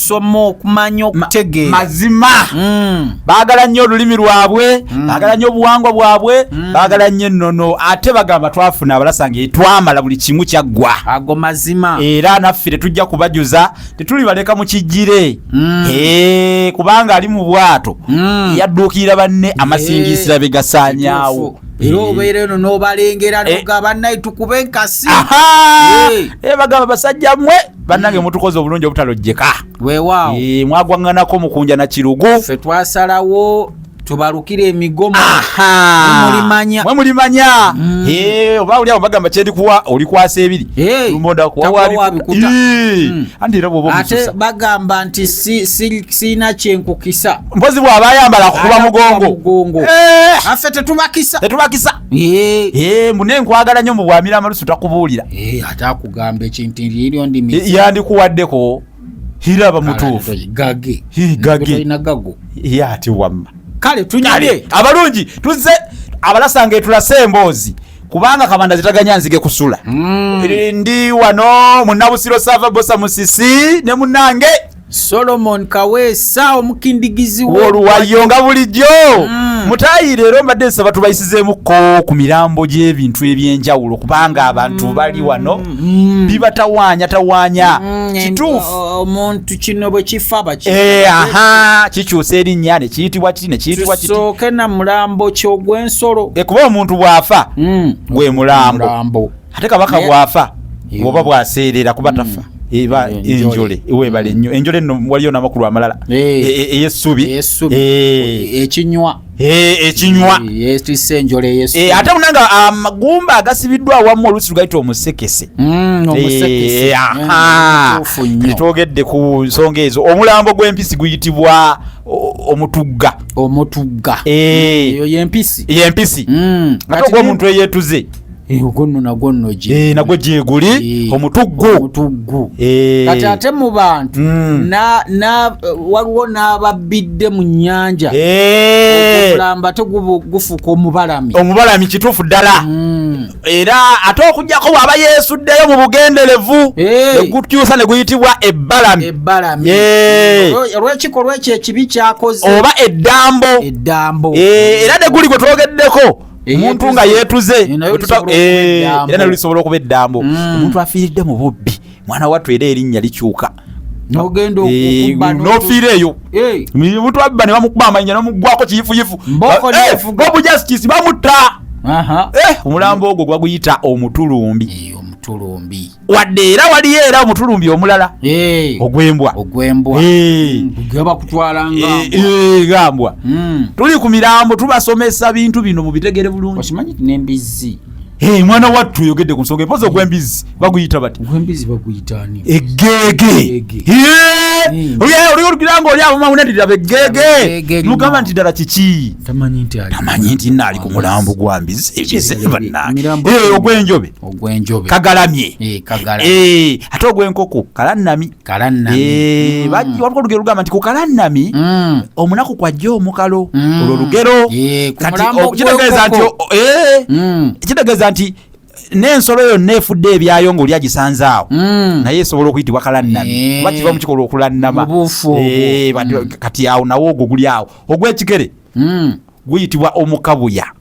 okusoma okumanya okutegeera mazima mm. baagala nnyo olulimi lwabwe mm. baagala nnyo obuwangwa bwabwe mm. baagala nnyo ennono ate bagamba twafuna abalasanga etwamala buli kimu kyaggwa ago mazima era naffe tetujja kubajuza tetulibaleka mu kijjire mm. kubanga ali mu bwato mm. yadduukirira banne amasingiisira be gasaanyaawo era eh. obeera eno n'obalengera eh. noga bannaye tukube enkasi eh. bagamba basajja mwe bannange mutukoze obulungi obutalojjeka weewaawo mwagwaŋŋanako mukunja na kirugu ffe twasalawo tubalukira emigomo mulimanya mwe mulimanya mm. eh, oba oli awo bagamba kyendikuwa olikwasa ebiri mm. ate bagamba nti sirina kyenkukisa mpozi bwaba ayambala kukuba mugongo eh. affe tetubakisa tetubakisa eh. mune nkwagala nyo mu bwamira amalusu takubuulira kugamba ekintu liryo ndimi yandikuwaddeko hiraba mutuufu gage gage ina gago yati wamma kale tunyale abalungi tuze abalasanga etulase emboozi kubanga kabanda zitaganya nzige kusula mm. ndi wano munabusiro sava bosa musisi ne munange Solomon Kaweesa omukindigizi w'oluwayo nga bulijjo mm. mutayi leero mbadde nsaba tubayisizeemuko ku mirambo gy'ebintu eby'enjawulo kubanga abantu mm. bali wano mm. bibatawaanya tawaanya mm. kituufu omuntu kino bwe kifa bakiaha eh, kikyusa erinnya ne kiyitibwa kiti ne kiyitibwa kitisooke na mulambo ky'ogw'ensolo eh, kuba omuntu bw'afa mm. gwe mulambo ate kabaka bwafa oba bwaseerera kuba mm. tafa eba eh, enjole webale nnyo enjole nno waliyo namakulu amalala eh. eh, eyessubi ekinywa ekinywa ate unanga amagumba ah, agasibiddwa awamu oluusi lugaita omusekese mm, mm, twogedde ku nsonga ezo omulambo gw'empisi guyitibwa omutugga omutugga eyo yempisi yempisi ate ogwomuntu eyetuze Eh, ogunno nagwo nno gye eh, nagwo gyeguli eh, omutuggu omutuggu kati ate mu bantu hmm. waliwo n'ababbidde mu nnyanja okulamba te gufuka omubalami omubalami kituufu ddala hmm. era ate okujjako bwaba yeesuddeyo mu bugenderevu negukyusa ne guyitibwa ebbalami ebbalami olw'ekikolwa ekyo ekibi kyakoze oba eddambo eddambo era ne guli gwe twogeddeko omuntu nga yeetuze eh, era nayo lisobola okuba eddambo mm. omuntu afiiridde mu bubbi mwana wattu era erinnya likyuka nogenda eh, nofiira eyo eh. omuntu abba ne bamukuba amanya nomuggwako kiyifuyifu bobu justice bamutta omulambo ogwo gwaguyita omutulumbi wadde era waliyo era omutulumbi omulala ogwembwa ogwembwa gambwa hmm. tuli ku mirambo tubasomesa bintu bino mubitegere bulungi okimanyi nembizzi Hey, mwana wattu oyogedde ku nsonga empozi ogwembizi baguyita bati eggeege oli olugira nga oli abomawunadirira beggeege mugamba nti ddala kiki tamanyi nti naali ku mulambo gwa mbizi ebyezebanange ogwenjobe ogwenjobe kagalamye eh, eh, ate ogwenkoko kalanami eh, mm. waliwo olugero lugamba nti kukalanami mm. omunaku kwajja omukalo mm. olwo lugero kitegeeza nti kitegeeza nti n'ensolo yonna efudde ebyayo ngaoli agisanze awo hmm. naye esobola okuyitibwa kalannami eh. oba kiva mu kikolwa okulannama eh, hmm. kati awo nawo ogwo guli awo ogw'ekigere hmm. guyitibwa omukabuya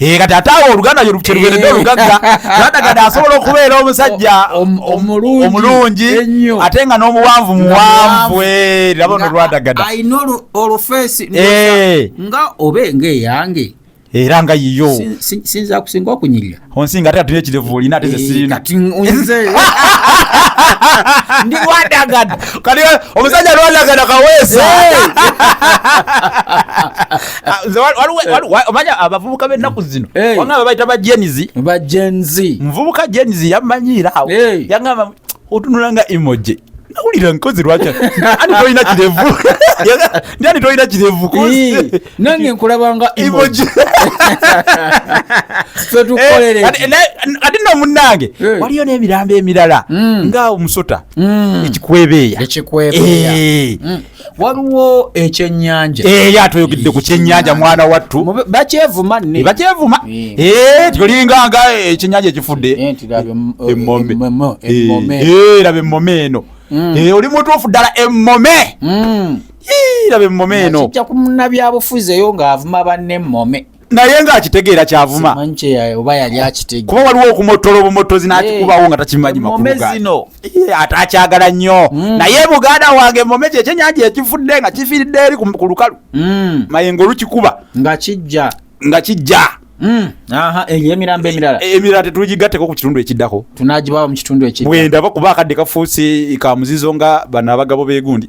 Eh, kati ate awo oluganda yo kyerugendedde eh. olugagga lwada kati asobola okubeera omusajja omulungi ate nga n'omuwanvu muwanvu eh, laba ono lwadagada alina olufeesi nga oba enga eyange era nga yiyo sinza kusinga okunyirira onsinga ate atuna ekirevu olina ate zesirina ndi wadagada kati omusajja lwadagada kaweesa Ah, eh. omanya abavubuka bennaku zino eh. wanga babaita bajenzi bajenzi muvubuka jenzi yamanyiira awo eh. yagamba otunula nga emoji nawulira nkozi lwaki ani tolina kirevu ani tolina kirevu nange nkulabanga emoji ate no munange waliyo n'emirambo emirala hmm. nga omusota hmm. ekikwebeeya ekikwebeeya hmm. waliwo ekyenyanja ee eh, atoyogedde ku kyenyanja mwana wattu bakyevuma ne bakyevuma ee eh. eh, tolinga nga ekyenyanja ekifudde emmome ee laba emmome eno mm. ee oli mutuufu ddala emmome mm. ee laba emmome eno kijja ku munnabyabufuzi eyo ng'avuma banne emmome naye nga akitegeera kyavuma kuba waliwo okumottola obumottozi n'akikubawo nga takimanyi makulugaano ate akyagala nnyo mm. naye buganda wange mome kyo ekyenyanja ekifudde nga kifiiridde eri ku lukalu mm. mayenga olukikuba nga kijja nga kijja mm. eyo emirambo emirala e, emirala tetugigatteko ku kitundu ekiddako tunagibawa mu kitundu ekidda bwendaba kuba akadde kafuusi kamuzizo nga bano abagabo begundi